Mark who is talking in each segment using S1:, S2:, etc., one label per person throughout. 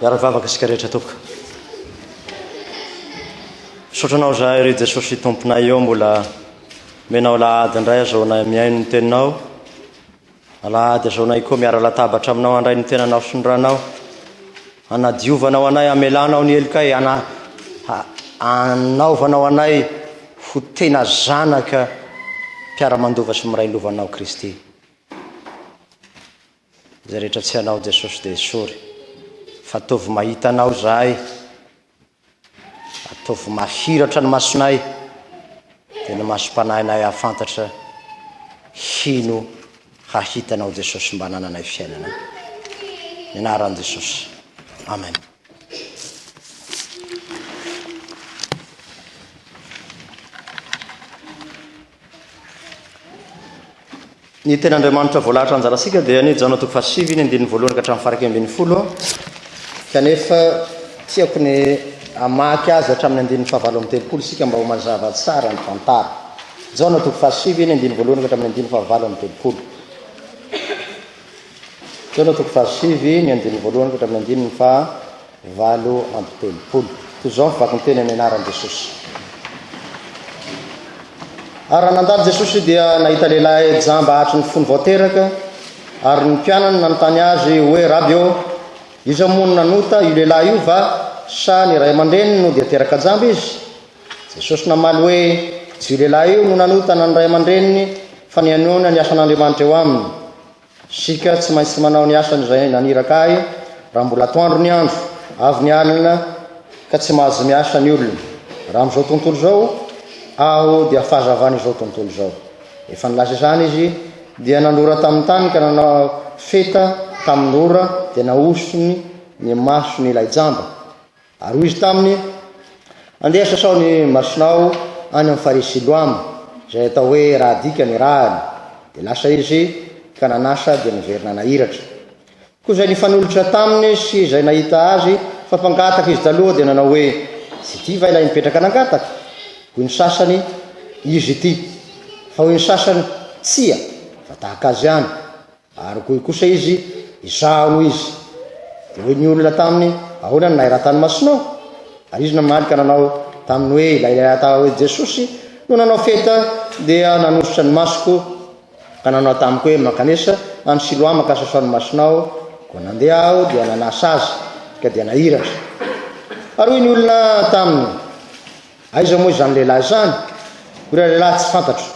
S1: Miara vavaka isika rehetra tompoko. Misaotra anao zahay ry Jesosy tomponay eo mbola menao lahady indray azaonay mihaino ny teninao. Alahady azaonay koa miara latabatra aminao handray ny tenanao sy ny ranao. Anadiovanao anay, amelanao ny helokay, ana anaovanao anay ho tena zanaka mpiara-mandova sy miray lovanao Kristy. Zay rehetra tsy hanao Jesosy dia esory Fa ataovy mahita anao zahay Ataovy mahiratra ny masonay Dia ny masom-panahinay hahafantatra Hino hahita anao Jesosy Mba hanananay fiainana Ny anaran'i Jesosy Amen Ny tenin'Andriamanitra voalahatra anjarantsika dia ny Jaona toko fahasivy ny andininy voalohany ka hatramin'ny faharaika ambin'ny folo, kanefa tiako ny hamaky azy hatramin'ny andininy fahavalo amby telopolo isika mba ho mazava tsara ny tantara. Jaona toko fahasivy ny andininy voalohany ka hatramin'ny andininy fahavalo amby telopolo. Jaona toko fahasivy ny andininy voalohany ka hatramin'ny andininy faha Valo amby telopolo. Toy izao ny vakinteny amin'ny anaran'i Jesosy. Ary raha nandalo Jesosy dia nahita lehilahy jamba hatry ny fony vao teraka, ary ny mpianany nanontany azy hoe, Raby ô, iza moa no nanota, io lehilahy io va, sa ny ray aman-dreniny no dia teraka jamba izy? Jesosy namaly hoe, Tsy io lehilahy io no nanota na ny ray aman-dreniny, fa ny hanoana ny asan'Andriamanitra eo aminy. Isika tsy maintsy manao ny asan'izay naniraka ahy raha mbola atoandro ny andro, avy ny alina ka tsy mahazo miasa ny olona. Raha amin'izao tontolo izao, aho dia fahazavan'izao tontolo izao. Efa nilaza izany izy, dia nandora tamin'ny tany ka nanao feta tamin'ny ora dia nahosony ny masony ilay jamba. Ary hoy izy taminy, Andeha sasao ny masonao any amin'ny farihy Siloam, izay atao hoe Rahadika ny rahany. Dia lasa izy ka nanasa dia niverina nahiratra. Koa izay nifanolotra taminy sy izay nahita azy fa mpangataka izy taloha dia nanao hoe, Tsy ity va ilay nipetraka nangataka? Hoy ny sasany, Izy ity. Fa hoy ny sasany, Tsia, fa tahaka azy ihany. Ary hoy kosa izy, Izaho no izy. Dia hoy ny olona taminy, Ahoana no nahiratany masonao? Ary izy namaly ka nanao taminy hoe, Ilay lehilahy atao hoe Jesosy no nanao feta dia nanosotra ny masoko, ka nanao tamiko hoe, Mankanesa any Siloama ka sasao ny masonao. Koa nandeha aho dia nanasa azy, ka dia nahiratra. Ary hoy ny olona taminy, Aiza moa izany lehilahy izany? Hoy ilay lehilahy, Tsy fantatro.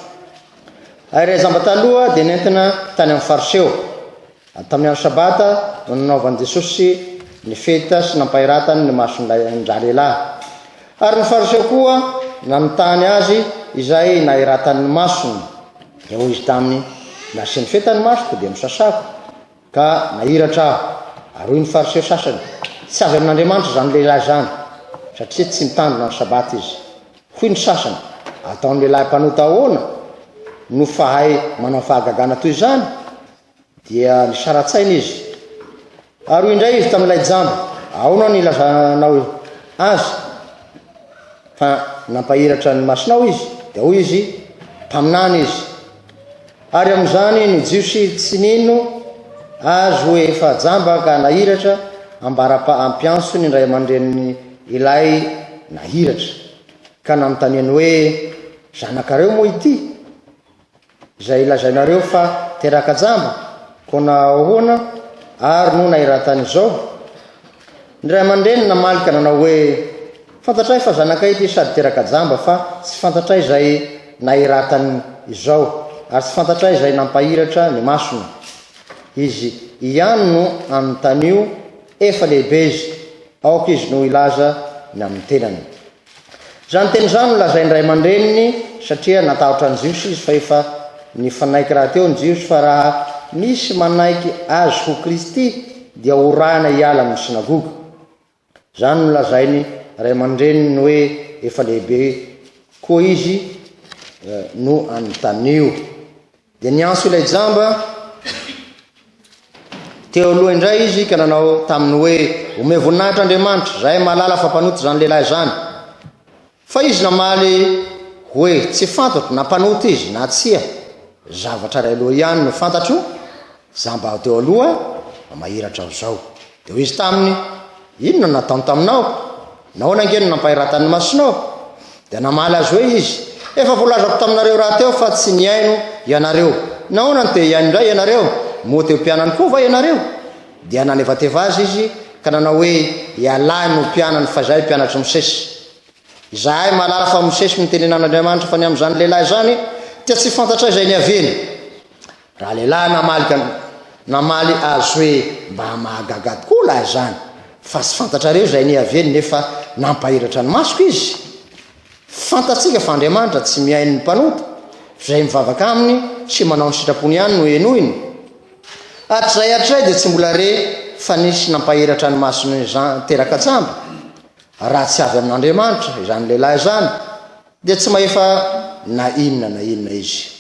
S1: Ary ilay jamba taloha dia nentina tany amin'ny faritra eo. Ary tamin'ny andro Sabata no nanaovan'i Jesosy ny fety sy nampahiratany ny mason'ilay an-dralehilahy. Ary ny Fariseo koa nanontany Azy izay nahiratany ny masony. Dia hoy Izy taminy, Nasian'ny fety ny masoko, dia misasako. Ka nahiratra aho, ary hoy ny Fariseo sasany, Tsy avy amin'Andriamanitra izany lehilahy izany, satria tsy mitandrina ny Sabata izy. Hoy ny sasany, Ataon'ny lehilahy mpanota ahoana no fahay manao fahagagana toy izany? Dia nisara-tsaina izy. Ary hoy indray izy tamin'ilay jamba, Ahoana no ilazanao azy fa nampahiratra ny masonao izy? Dia hoy izy, Mpaminany izy. Ary amin'izany no Jiosy tsy nino Azy hoe efa jamba ka nahiratra ambara-pa-ampiantso ny ray aman-drenin' ilay nahiratra, ka nanontaniany hoe, Zanakareo moa ity, izay lazainareo fa teraka jamba? Koa nahoana ary no nahiratany izao? Ny ray aman-dreny namaly ka nanao hoe, Fantatray fa zanakay ity sady teraka jamba fa tsy fantatray izay nahiratany izao ary tsy fantatray izay nampahiratra ny masony. Izy ihany no anontanio, efa lehibe izy, aoka izy no hilaza ny amin'ny tenany. Izany teny izany no lazain'ny ray aman-dreniny satria natahotra ny Jiosy izy fa efa nifanaiky rahateo ny Jiosy fa raha misy manaiky azy ho Kristy dia horahina hiala amin'ny synagoga. Izany no lazainy ray aman-dreniny hoe efa lehibe koa izy no anontanio. Dia niantso ilay jamba teo aloha indray izy ka nanao taminy hoe, Omeo voninahitra Andriamanitra, izahay mahalala fa mpanota izany lehilahy izany. Fa izy namaly hoe, Tsy fantatro na mpanota izy na tsia. Zavatra iray loha ihany no fantatro, Za mba teo aloha mba mahiratra an'izao. Dia hoy izy taminy, Inona no nataony taminao? Nahoana ange no nampahiratany ny masonao? Dia namaly azy hoe izy, Efa voalazako taminareo rahateo fa tsy nihaino ianareo. Nahoana no te hihaino indray ianareo? Moa te ho mpianany koa va ianareo? Dia nanevateva azy izy ka nanao hoe, Ialahy no mpianany fa izahay mpianatr'i Mosesy. Izahay mahalala fa Mosesy no nitenenan'Andriamanitra fa ny amin'izany lehilahy izany dia tsy fantatra izay niaviany. Ralehilahy namaly namaly azy hoe mba mahagaga tokoa lahy izany fa tsy fantatrareo izay nihaviany nefa nampahiratra ny masoko izy. Fantatsika fa Andriamanitra tsy mihaino ny mpanota, izay mivavaka aminy sy manao ny sitrapony ihany no henoiny. Hatrizay hatrizay dia tsy mbola re fa nisy nampahiratra ny masony izany teraka tsamba. Raha tsy avy amin'Andriamanitra izany lehilahy izany dia tsy mahefa na inona na inona izy.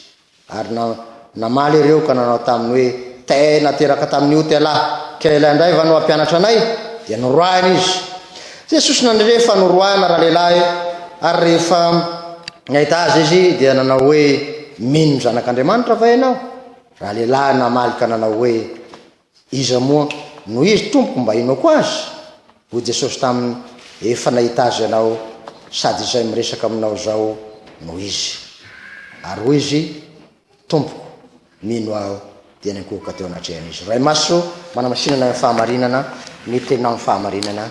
S1: Ary na, namaly ireo ka nanao taminy hoe, Tena teraka tamin'ny ota ialahy, ka ialahy indray va no hampianatra anay? Dia noroahina izy. Jesosy nandre fa noroahina ralehilahy, ary rehefa nahita azy izy, dia nanao hoe, Mino ny Zanak'Andriamanitra va ianao? Ralehilahy namaly ka nanao hoe, Iza moa no izy tompoko mba inoako azy? hoy Jesosy taminy, efa nahita azy ianao sady izay miresaka aminao izao no izy. Ary hoy izy, Tompoko, mino aho, dia nikohoka teo anatrehan'izy. Ray Masina ô, manamasinana ny fahamarinana, ny teninao ny fahamarinana.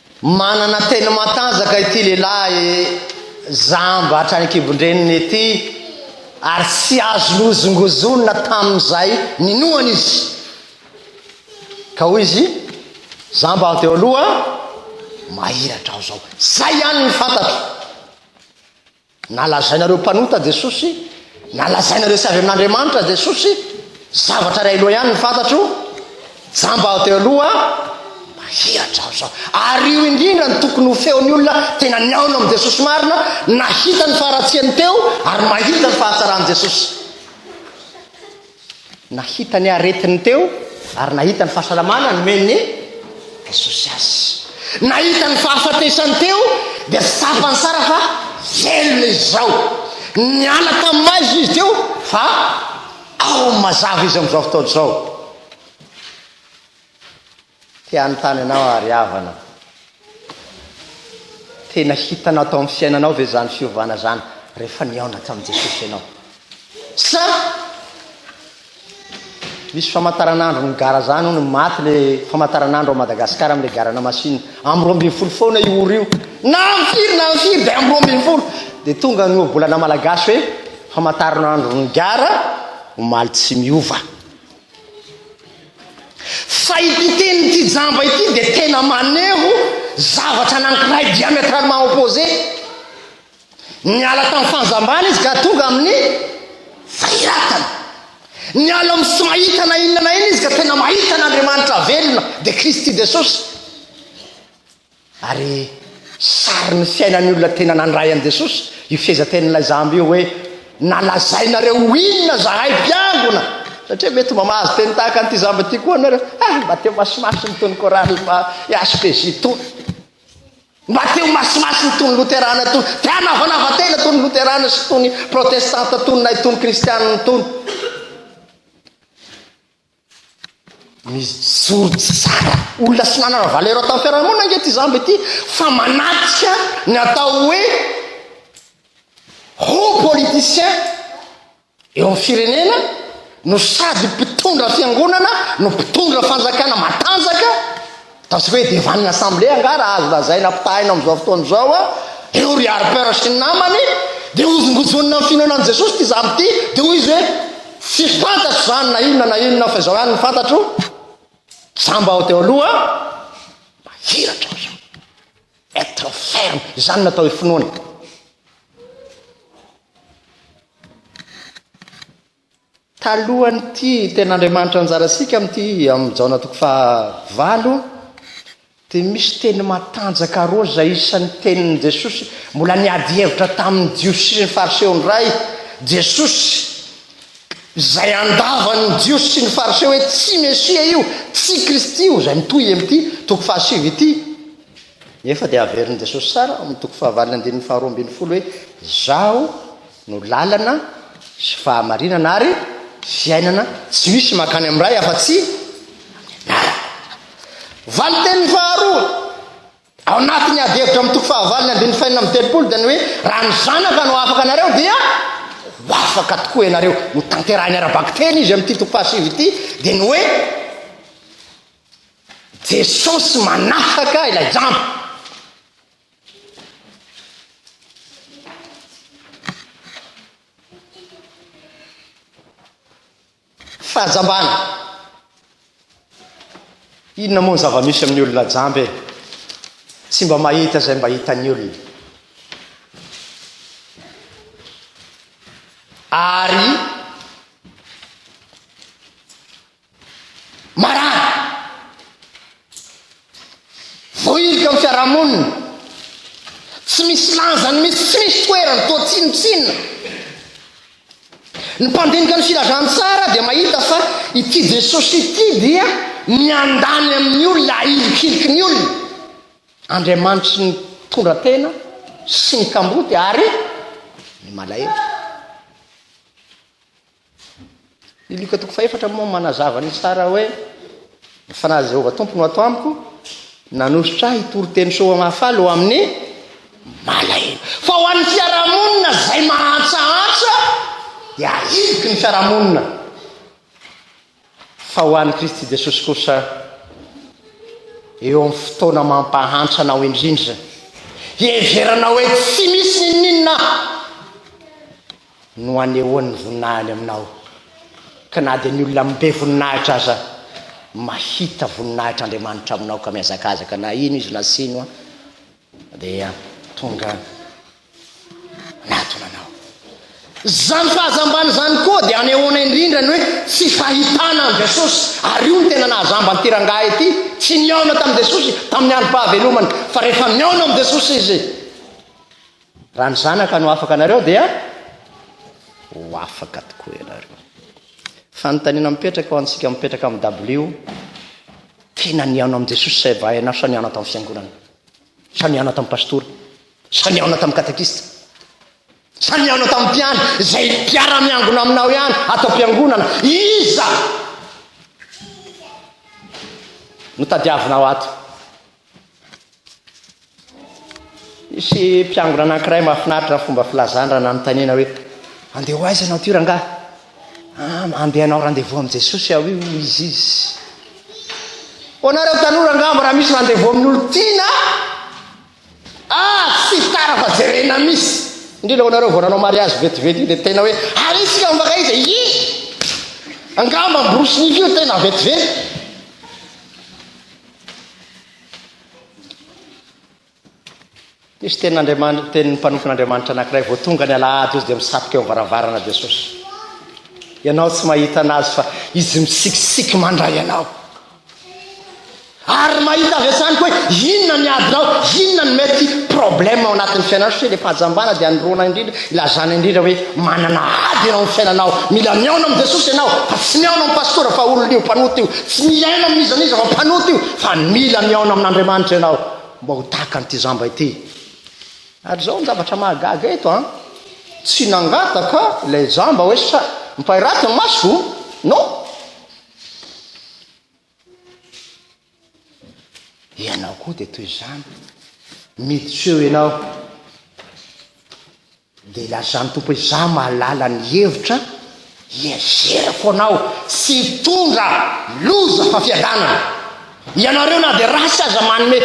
S1: Manana teny matanjaka ity lehilahy jamba hatrany an-kibon-dreniny ity ary tsy azo nozongozonina tamin'izay ninoany izy. Ka hoy izy, Jamba aho teo aloha, mahiratra aho izao. Izay ihany ny fantatro. Nalazainareo mpanota Jesosy, nalazainareo tsy avy amin'Andriamanitra Jesosy, zavatra iray loha ihany ny fantatro, jamba aho teo aloha, mahihatra aho izao. Ary io indrindra no tokony ho feon'ny olona tena nihaona amin'i Jesosy marina, nahita ny faharatsiany teo ary mahita ny fahatsaran'i Jesosy. Nahita ny aretiny teo ary nahita ny fahasalamana nomen'i Jesosy azy. Nahita ny fahafatesany teo dia tsapany tsara fa velona izy izao. Niala tamin'ny maizina izy teo fa ao amin'ny mazava izy amin'izao fotoana izao. Te hanontany anao aho ry havana, tena hitanao tao amin'ny fiainanao ve izany fiovana izany rehefa nihaona tamin'i Jesosy ianao? Sa misy famantaranandro nigara izany hono, maty ilay famantaranandro ao Madagasikara amin'ilay garana machine, amin'ny roa ambin'ny folo foana io ora io, na amin'ny firy na amin'ny firy dia amin'ny roa ambin'ny folo dia tonga ny ohabolana malagasy hoe famantaranandro nigara omaly tsy miova. Fa ity tenin'ity jamba ity dia tena maneho zavatra anankiray diamétralement opposé. Niala tamin'ny fanjambana izy ka tonga amin'ny fahiratana. Niala amin'ny tsy mahita na inona na inona izy ka tena mahita an'Andriamanitra velona, dia Kristy Jesosy. Ary sarin'ny fiainan'ny olona tena nandray an'i Jesosy io fehezan-tenin'ilay jamba io hoe, Nalazainareo ho inona izahay mpiangona? Satria mety mba mahazo teny tahaka an'ity jamba ity koa ianareo. Ah, mba teo masimasiny itony chorale fa HPJ itony. Mba teo masimasiny itony Loterana itony. Te hanavanava tena itony Loterana sy itony Protestanta itony na itony Kristianina itony. Mijoro tsy zara olona sy manana valeur ao tamin'ny fiarahamonina ange ity zamba ity fa manatrika ny atao hoe haut politicien eo amin'ny firenena no sady mpitondra fiangonana no mpitondra fanjakana matanjaka Ataontsika hoe devan'ny Assemblée angaha raha azo lazaina ampitahaina amin'izao fotoana izao an, ireo ry Harper sy ny namany dia hozongojonina amin'ny finoana an'i Jesosy ity zanako ity, dia hoy izy hoe, Tsy fantatro izany na inona na inona fa izao ihany no fantatro, jamba aho teo aloha, mahiratra aho izao. Être ferme, izany no atao hoe finoana. Talohan'ity tenin'Andriamanitra anjara isika amin'ity amin'ny Jaona toko faha valo dia misy teny matanjaka roa izay isan'ny tenin'i Jesosy mbola niady hevitra tamin'ny Jiosy sy ny Fariseo indray Jesosy izay andavan'ny Jiosy sy ny Fariseo hoe tsy Mesia io, tsy Kristy io izay mitohy amin'ity toko faha sivy ity nefa dia averin'i Jesosy tsara amin'ny toko faha valo ny andininy faha roa ambin'ny folo hoe izaho no lalana sy fahamarinana ary fiainana, tsy misy mankany amin'ny Ray afa-tsy anarany. Valin-teniny faharoa ao anatin'ny adihevitra amin'ny toko fahavalon'ny andininy fahenina amby telopolo dia ny hoe raha ny Zanaka no afaka anareo dia ho afaka tokoa ianareo. Notanterahiny ara-bakiteny izy amin'ity toko fahasivy ity dia ny hoe Jesosy manafaka ilay jamba. Fahajambana! Inona moa ny zava-misy amin'ny olona jamba e? Tsy mba mahita izay mba hitan'ny olona. Ary Marary. Voaily teo amin'ny fiarahamonina. Tsy misy lanjany mihitsy, tsy misy toerany, toa tsinontsinona. Ny mpandinika ny filazantsara dia mahita fa ity Jesosy ity dia miandany amin'ny olona, ahilikiliky ny olona. Andriamanitry ny mpitondra tena sy ny kamboty ary ny malahelo. Ny Lioka toko fahefatra moa manazava ny tsara hoe ny fanahin'i Jehovah Tompo no ato amiko, nanosotra ahy hitory teny soa mahafaly ho amin'ny malahelo. Fa ho an'ny fiarahamonina izay mahantsahantsa dia ahiliky ny fiarahamonina. fa ho an'i Kristy Jesosy kosa eo amin'ny fotoana mampahantra anao indrindra, hiheverana hoe tsy misy n'inon'inona no anehoan'ny voninahiny aminao, ka na dia ny olona mibe voninahitra aza mahita voninahitr'Andriamanitra aminao ka mihazakazaka na ino izy na sino an. Dia tonga miadona anao. Izany fahazambana izany koa dia anehoana indrindra ny hoe tsy fahitana an'i Jesosy. Ary io no tena nahazamba an'ity rangahy ity. Tsy nihaona tamin'i Jesosy tamin'ny androm-pahavelomany, fa rehefa mihaona amin'i Jesosy izy, raha ny Zanaka no afaka anareo dia ho afaka tokoa ianareo. Fanontaniana mipetraka ho antsika mipetraka amin'ny dabilio. Tena nihaona amin'i Jesosy say vahiny aho sa nihaona tamin'ny fiangonana? Sa nihaona tamin'ny pastora? Sa nihaona tamin'ny katekista? Sa nihaona tamin'ny mpiandry izay mpiara-miangona aminao ihany ato am-piangonana? Iza no tadiavinao ato? Nisy mpiangona anankiray mahafinaritra ny fomba filazany raha nanontaniana hoe andeha ho aiza ianao ity rangahy? Ah, andeha hanao rendez-vous amin'i Jesosy aho io, hoy izy izy. Hoanareo tanora angamba raha misy rendez-vous amin'olo tiana, ah, tsy tara fa jerena misy. Indrindra hoanareo vao nanao mariazy vetivety io dia tena hoe ary isika mifankaiza? Hi! Angamba miborosy nify io tena vetivety. Misy tenin'Andriamanitra, tenin'ny mpanompon'Andriamanitra anankiray vao tonga ny alahady izy dia misatoka eo varavarana Jesosy. Ianao tsy mahita anazy fa izy misikisiky mandray anao. Ary mahita avy hatrany koa inona ny adinao, inona ny mety problème ao anatin'ny fiainanao satria le fahajambana dia anoroana indrindra Ilazana indrindra hoe manana ady eo amin'ny fiainanao. Mila mihaona amin'i Jesosy ianao, fa tsy mihaona amin'ny pastora fa olona io mpanota io. Tsy miaina amin'ny iza n'iza fa mpanota io, fa mila mihaona amin'Andriamanitra ianao mba ho tahaka an'ity zamba ity. Ary izao ny zavatra mahagaga eto an! Tsy nangataka ilay jamba hoe sa mpairaty ny masoko? Non! Ianao koa dia toy izany. Miditra eo ianao. Dia lazan'ny Tompo hoe, Izaho mahalala ny hevitra hiezerako anao. Tsy hitondra loza fa fiadanana. Ianareo na dia ratsy aza manome,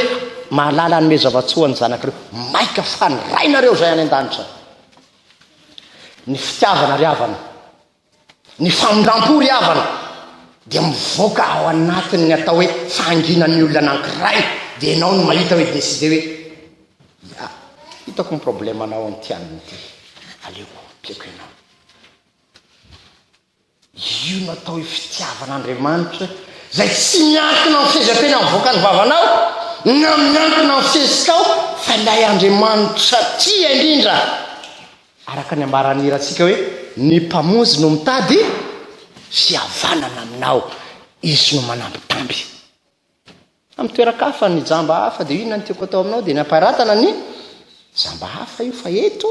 S1: mahalala hanome zava-tsoa ny zanakareo. Maika fandray nareo izay any an-danitra. Ny fitiavana ry havana. Ny famindram-po ry havana dia mivoaka ao anatin'ny atao hoe fahanginan'ny olona anankiray dia ianao no mahita hoe décider hoe ya, hitako ny problème anao amin'ity alina ity, aleoko ampiako ianao. Io no atao hoe fitiavan'Andriamanitra izay tsy miankina amin'ny fehezanteny avoakan'ny vavanao na miankina amin'ny fihetsika ao fa ilay Andriamanitra tia indrindra Araka ny ambaran'ny hirantsika hoe, Ny Mpamonjy no mitady fihavanana aminao, Izy no manambitamby. Amin'ny toeran-kafa, ny jamba hafa dia inona no tiako atao aminao dia ny hamparatana ny jamba hafa io fa eto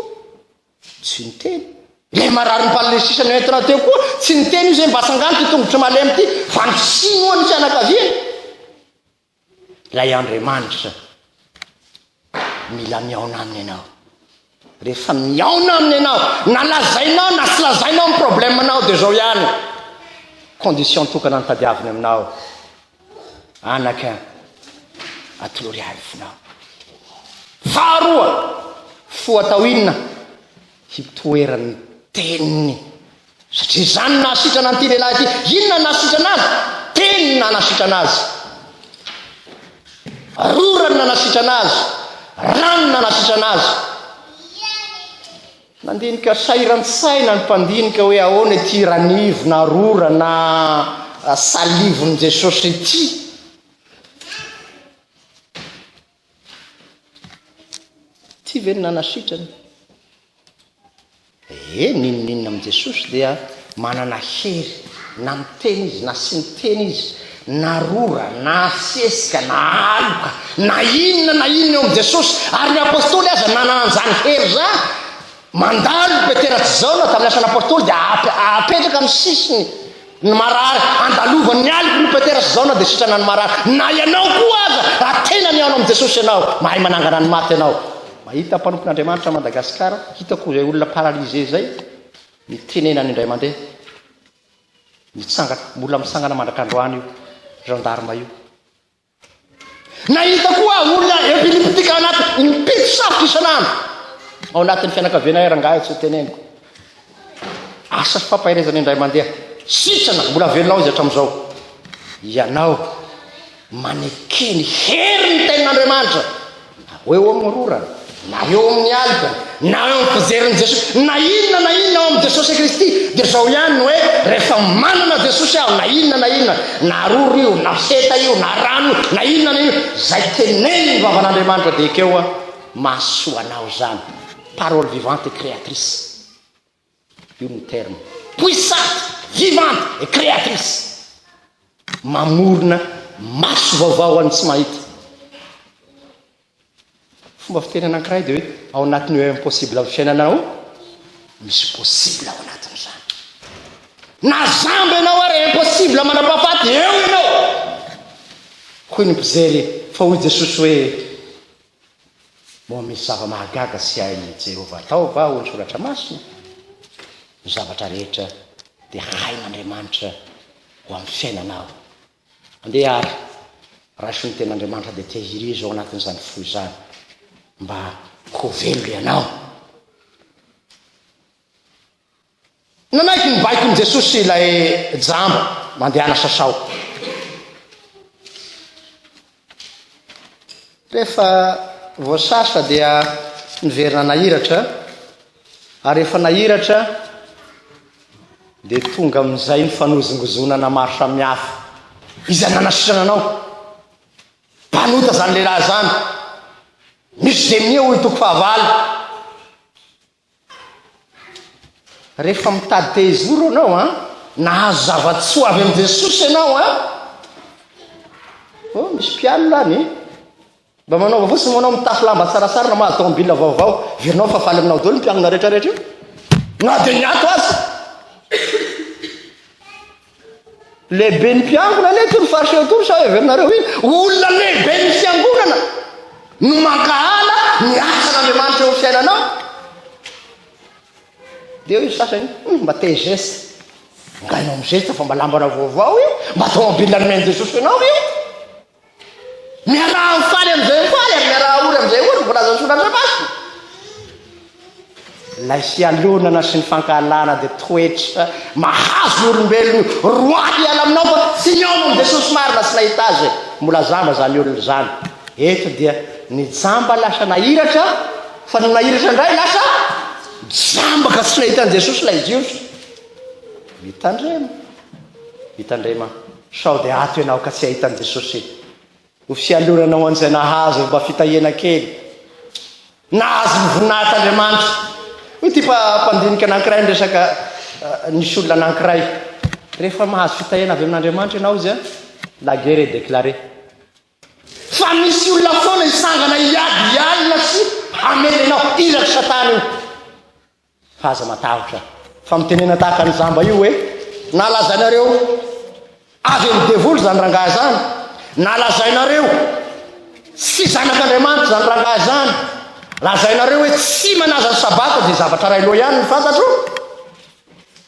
S1: tsy niteny. Ilay marary ny paralysisa noentina teo koa tsy niteny io izay mba tsangano ity tongotry malemy ity fa ny sinoa ny fianakaviany. Ilay Andriamanitra mila mihaona aminy ianao. Rehefa mihaona aminy ianao, na lazainao na tsy lazainao ny problemanao dia izao ihany. Condition tokana ny tadiaviny aminao. Anaka, atolory ahy ny fonao. Faharoa, foa atao inona? Hitoeran'ny teniny Satria izany no nahasitrana an'ity lehilahy ity. Inona no nahasitrana azy? Teny no nanasitrana azy. Rora no nanasitrana azy. Rano no nanasitrana azy. Nandinika sairan-tsaina ny mpandinika hoe ahoana ity ranivo na rora na salivon'i Jesosy ity. Ity ve no nanasitrana? Ee, n'inon'inona amin'i Jesosy dia manana hery, na miteny Izy, na tsy miteny Izy, na rora, na sesika, na aloka, na inona na inona eo amin'i Jesosy, ary ny Apostoly aza nanana an'izany hery izany. Mandalo i Petera tsy zao na tamin'ny asan'ny Apostoly dia apetraka amin'ny sisiny ny marary, andalovan'ny ny aliko ry Petera sy Jaona dia sitrana ny marary, na ianao koa aza raha tena mihaona amin'i Jesosy ianao, mahay manangana ny maty ianao, mahita mpanompon'Andriamanitra Madagascar, hitako izay olona paralysé izay ny tenenany indray mandeha, mitsangana, mbola mitsangana mandrak'androany io gendarme io. Nahita koa aho olona epileptika anaty impito sarotra isan'andro ao anatin'ny fianakaviana iray rangahy tsy hoteneniko. Asa fampaherezana indray mandeha. Sitrana, mbola velona ao izy hatramin'izao. Ianao manekeny herin'ny tenin'Andriamanitra. Na ho eo amin'ny rorana, na eo amin'ny alina, na eo amin'ny fijerin'i Jesosy, na inona na inona ao amin'i Jesosy Kristy, dia izao ihany ny hoe, rehefa manana Jesosy aho, na inona na inona, na roro io, na seta io, na rano io, na inona na inona, izay tenenin'ny vavan'Andriamanitra dia ekeo aho, mahasoa anao izany, parole vivante et créatrice. Io no terme puissante, vivante et créatrice. Mamorona maso vaovao ho an'ny tsy mahita. Fomba fiteny anankiray dia hoe ao anatin'io impossible amin'ny fiainana ao, misy possible ao anatin'izany. Na zambo ianao ary impossible mandrapahafaty, eo ianao. Hoy ny mpijery fa hoy Jesosy hoe Moa misy zava-mahagaga tsy hain'i Jehovah atao va ao amin'ny Soratra Masina? Ny zavatra rehetra dia hain'Andriamanitra ho amin'ny fiainanao. Andeha àry, raiso ny Tenin'Andriamanitra dia tehirizo ao anatin'izany fo izany, mba ho velona ianao. Nanaiky ny baikon'i Jesosy ilay jamba mandehana sasao. Rehefa voasasa dia niverina nahiratra, ary rehefa nahiratra dia tonga amin'izay ny fanozongozonana maro samihafa. Iza nanasitrana anao? Mpanota izany lehilahy izany. Misy demia hoy toko fahavalo. Rehefa mitady te hizoro ianao an, nahazo zava-tsoa avy amin'i Jesosy ianao an, oh misy mpialona any, mba manaova fotsiny moa ianao mitafy lamba tsaratsara na mahazo tomobila vaovao, verinao fa faly aminao daholo ny mpialona rehetra rehetra io, na dia ny ato aza. Lehibe ny mpiangona anie toy ny fariseo toy sa heverinareo iny olona lehibe ny fiangonana no mankahala ny asan'Andriamanitra eo fiainanao? Dia eo izy sasany hmm, mba te zesta ngainao mizesta fa mba lambana vaovao io mba tômôbila nomen'i Jesosy anao io Miaraha mifaly amin'izay ho faly ary miaraha ory amin'izay ory ny voalazan'ny Soratra Masina. Ilay fialonana sy ny fankahalana dia toetra mahazo ny olombelona roahy hiala aminao fa tsy nihaona amin'i Jesosy marina sy nahita Azy. Mbola zamba izany olona izany. Eto dia nijamba lasa nahiratra fa nony nahiratra indray lasa jamba ka tsy nahita an'i Jesosy ilay Jiosy. Mitandrema. Mitandrema. Sao dia ato ianao ka tsy ahita an'i Jesosy e! Ho fialonana ho an'izay nahazo mba fitahiana kely. Nahazo ny voninahitr'Andriamanitra. Hoy ity mpandinika anankiray niresaka nisy olona anankiray. Rehefa mahazo fitahiana avy amin'Andriamanitra ianao hozy a, la guerre est déclarée. Fa misy olona foana hitsangana hiady hialona sy hamely anao. Irak'i Satana io. Fa aza matahotra. Fa mitenena tahaka ny jamba io hoe nalazainareo avy amin'ny devoly izany rangahy izany, nalazainareo tsy zanak'Andriamanitra izany rangahy izany, lazainareo hoe tsy manaza ny sabata dia zavatra iray loha ihany ny fantatro.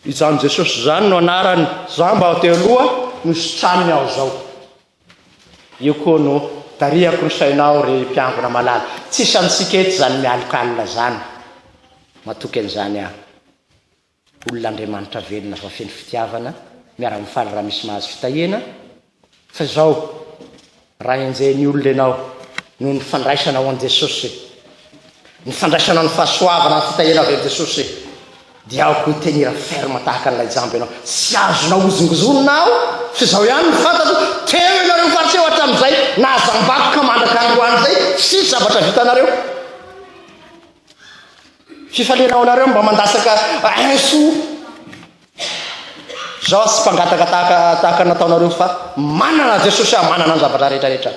S1: Izany Jesosy izany no anarany, jamba teo aloha no sitrany ny ao izao. Io koa no tarihako ny sainao ry mpiangona malala. Tsisy amintsika eto izany mialoka alina izany. Matoky an'izany aho. Olona Andriamanitra velona fa feno fitiavana, miara-mifaly raha misy mahazo fitahiana. Fa izao, raha henjehin'ny olona ianao noho ny fandraisanao an'i Jesosy, ny fandraisanao ny fahasoavana, ny fitahiana avy amin'i Jesosy, Diaoko hoe tenir ferme tahaka an'ilay jamba ianao, tsy azonao hozongozonina aho, fa izao ihany no fantatro, teo ianareo fa tsy eo hatramin'izay nahajambako ka mandraka androany izay tsy hisy zavatra vitanareo. Fifaliana ho anareo mba mandatsaka inso zao aho tsy mpangataka tahaka tahaka nataonareo fa manana Jesosy aho manana ny zavatra rehetra rehetra.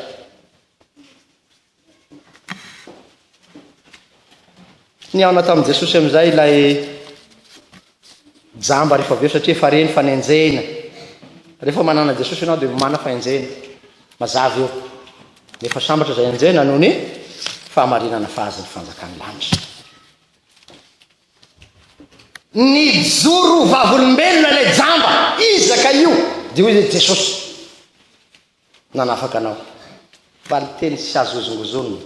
S1: Nihaona tamin'i Jesosy amin'izay ilay jamba rehefa avy eo satria efa re ny fanenjehina. Rehefa manana Jesosy ianao dia mana fahenjehina. Mazava io. Nefa sambatra izay enjehina noho ny fahamarinana fa azy ny fanjakan'ny lanitra. Nijoro vavolombelona ilay jamba. Iza ka io? Dia hoy Jesosy. Nanafaka anao. Valinteny tsy azo hozongozonina.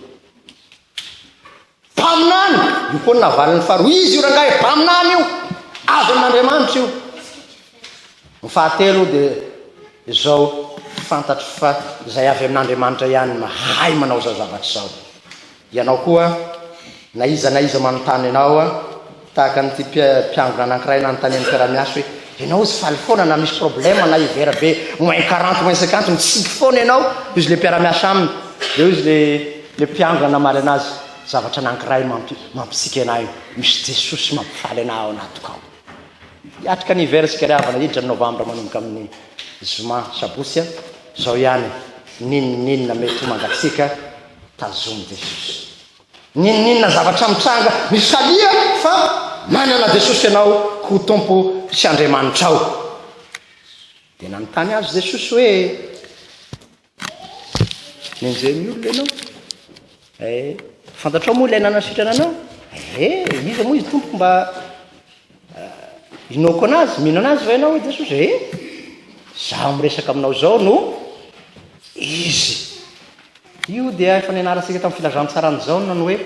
S1: Mpaminany! Io koa ny navaliny faharoa. Izy io rangahy mpaminany io. Avy amin'Andriamanitra io. Ny fahatelo dia izao fantatro fa izay avy amin'Andriamanitra ihany mahay manao izao zavatra izao. Ianao koa, na iza na iza manontany anao, tahaka an'ity mpiangona anankiray nanontanian'ny mpiara-miasa hoe, Ianao tsy faly foana na misy problème na hiver be moins quarante, moins cinquante, mitsiky foana ianao? hoy izy ilay mpiara-miasa aminy. Dia hoy izy ilay mpiangona namaly an'azy, Zavatra anankiray mampitsiky anà io, misy Jesosy mampifaly anà ao anatiko ao. Hiatrika ny hiver isika ry havana, hiditra ny novambra manomboka amin'ny zoma, sabotsy, izao ihany, n'inon'inona mety ho mangatsiaka, Tazomy Jesosy. N'inon'inona zavatra mitranga, misalia fa manana Jesosy ianao ho Tompo sy Andriamanitrao. Dia nanontany azy Jesosy hoe, Nenjehin'ny olona ianao? Eh, fantatrao moa ilay nanasitrana anao? Eh, iza moa izy Tompoko mba Inoako anazy, mino anazy va ianao hoe Jesosy? Ee, izaho miresaka aminao izao no Izy. Io dia efa nianarantsika tamin'ny filazantsaran'i Jaona ny hoe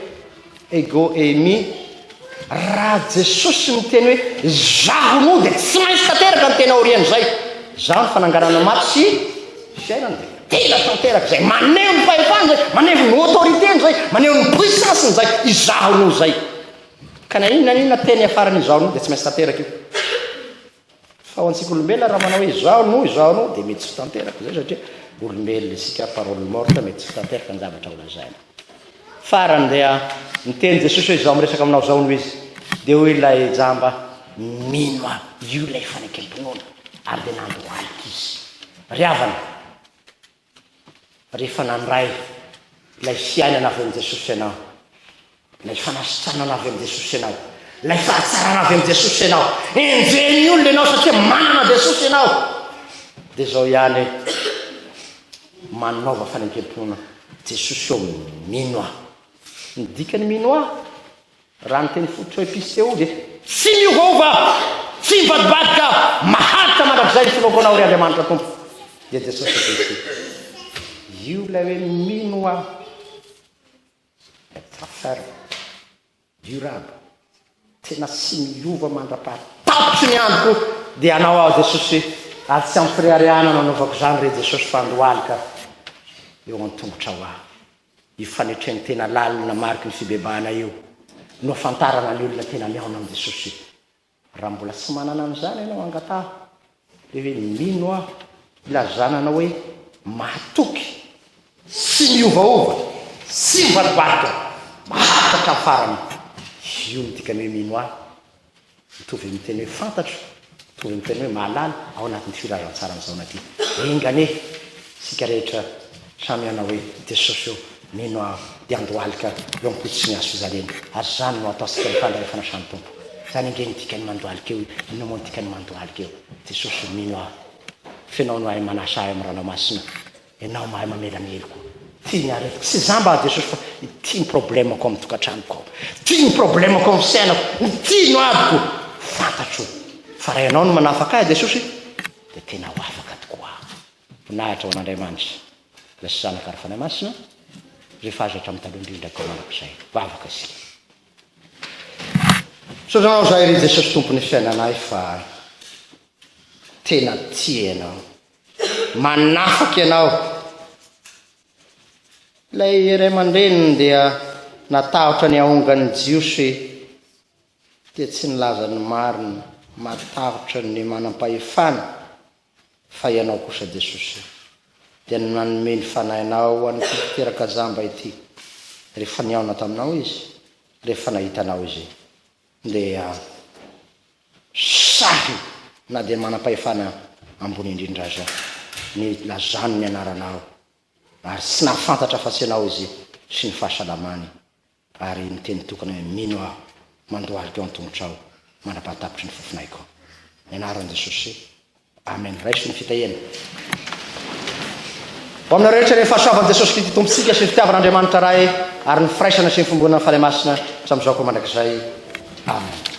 S1: ego eimi. Raha Jesosy miteny hoe izaho no dia tsy maintsy tanteraka ny tena aorian'izay. Izaho ny fananganana maty sy fiainana. Tena tanteraka izay. Maneho ny fahefana izay, maneho ny autorité-ny izay, maneho ny puissance-ny izay. Izaho no izay. Ka na inona na inona teny hiafaran'ny izaho no dia tsy maintsy tanteraka io. Fa ho antsika olombelona raha manao hoe izaho no, izaho no dia mety tsy ho tanteraka izay satria olombelona isika parole morte mety tsy ho tanteraka ny zavatra ho lazaina. Farany dia niteny Jesosy hoe izaho miresaka aminao izao no izy. Dia hoy ilay jamba mino aho, io ilay fanekempinoana ary dia nandohalika izy. Ry havana, Rehefa nandray ilay fiainana avy amin'i Jesosy ianao, ilay fanasitranana avy amin'i Jesosy ianao, ilay fahatsarana avy amin'i Jesosy ianao, enjehin'ny olona ianao satria manana Jesosy ianao, dia izao ihany hoe manaova fanekemponana Jesosy eo mino aho. Ny dikany mino aho Raha ny teny fototra hoe piseho dia. Tsy miovaova, tsy mivadibadika, maharitra mandrakizay ny finoakoanao ry Andriamanitra Tompo dia Jesosy Kristy. Io ilay hoe mino aho. Tsara tsara. Durable. Tena tsy miova mandrapaha tapitry ny androko dia anao aho Jesosy ary tsy ampireharehanana anaovako izany re Jesosy fa andohalika eo an-tongotrao aho. Io fanetren-tena lalina mariky ny fibebahana io no ahafantarana ny olona tena mihaona amin'i Jesosy io. Raha mbola tsy manana an'izany ianao, angataho le hoe, Mino aho, ilazana anao hoe mahatoky, tsy miovaova, tsy mibaribary ka mahatratra amin'ny farany. Io no dikan'ny hoe mino ahy. Mitovy amin'ny teny hoe fantatro, mitovy
S2: amin'ny teny hoe mahalala ao anatin'ity filazantsara amin'izao ity. Enga anie isika rehetra samy hanao hoe Jesosy ô, mino aho dia handohalika eo am-pototry ny hazo fijaliana, ary izany no hataontsika ny fandray fanasan'ny Tompo. Izany ange no dikan'ny mandohalika io e! Inona moa ny dikan'ny mandohalika eo? Jesosy ô, mino aho. Fenao no hahay manasa ahy amin'ny Ranao Masina. Enao mahay mamela ny heloko. Tia ny aretiko. Tsy za mba Jesosy fa ity ny problemako amin'ny tokantranoko ao. Ity ny problemako amin'ny fiainako. Ity no adiko. Fantatro fa raha ianao no manafaka ahy Jesosy dia tena ho afaka tokoa aho. Voninahitra ho an'Andriamanitra Ilay sy Zanaka ary Fanahy Masina izay fahazo hatramin'ny taloha indrindra koa manako izay. Vavaka isika. Misaotra anao zahay ry Jesosy Tompon'ny fiainanay fa tena tia ianao. manafaka ianao. Ilay ray aman-dreniny dia natahotra ny haongan'ny Jiosy dia tsy nilaza ny marina, matahotra ny manam-pahefana, fa ianao kosa Jesosy dia nanome ny fanahinao ho an'ity mpiteraka jamba ity rehefa nihaona taminao izy, rehefa nahita anao izy. Ndeha sahy na dia manam-pahefana ambony indrindra aza ny lazany ny anaranao ary tsy nahafantatra afa-tsy ianao izy sy ny fahasalamany ary niteny tokana hoe mino aho mandohalika eo an-tongotrao mandrapahatapitry ny fofonaiko ny anaran'i Jesosy Amen raiso ny fitahiana ho aminao rehetra ny fahasoavan'i Jesosy Kristy Tompontsika sy ny fitiavan'Andriamanitra Ray ary ny firaisana sy ny fimboana ny Fanahy Masina hatramin'izao koa mandrakizay. Amen.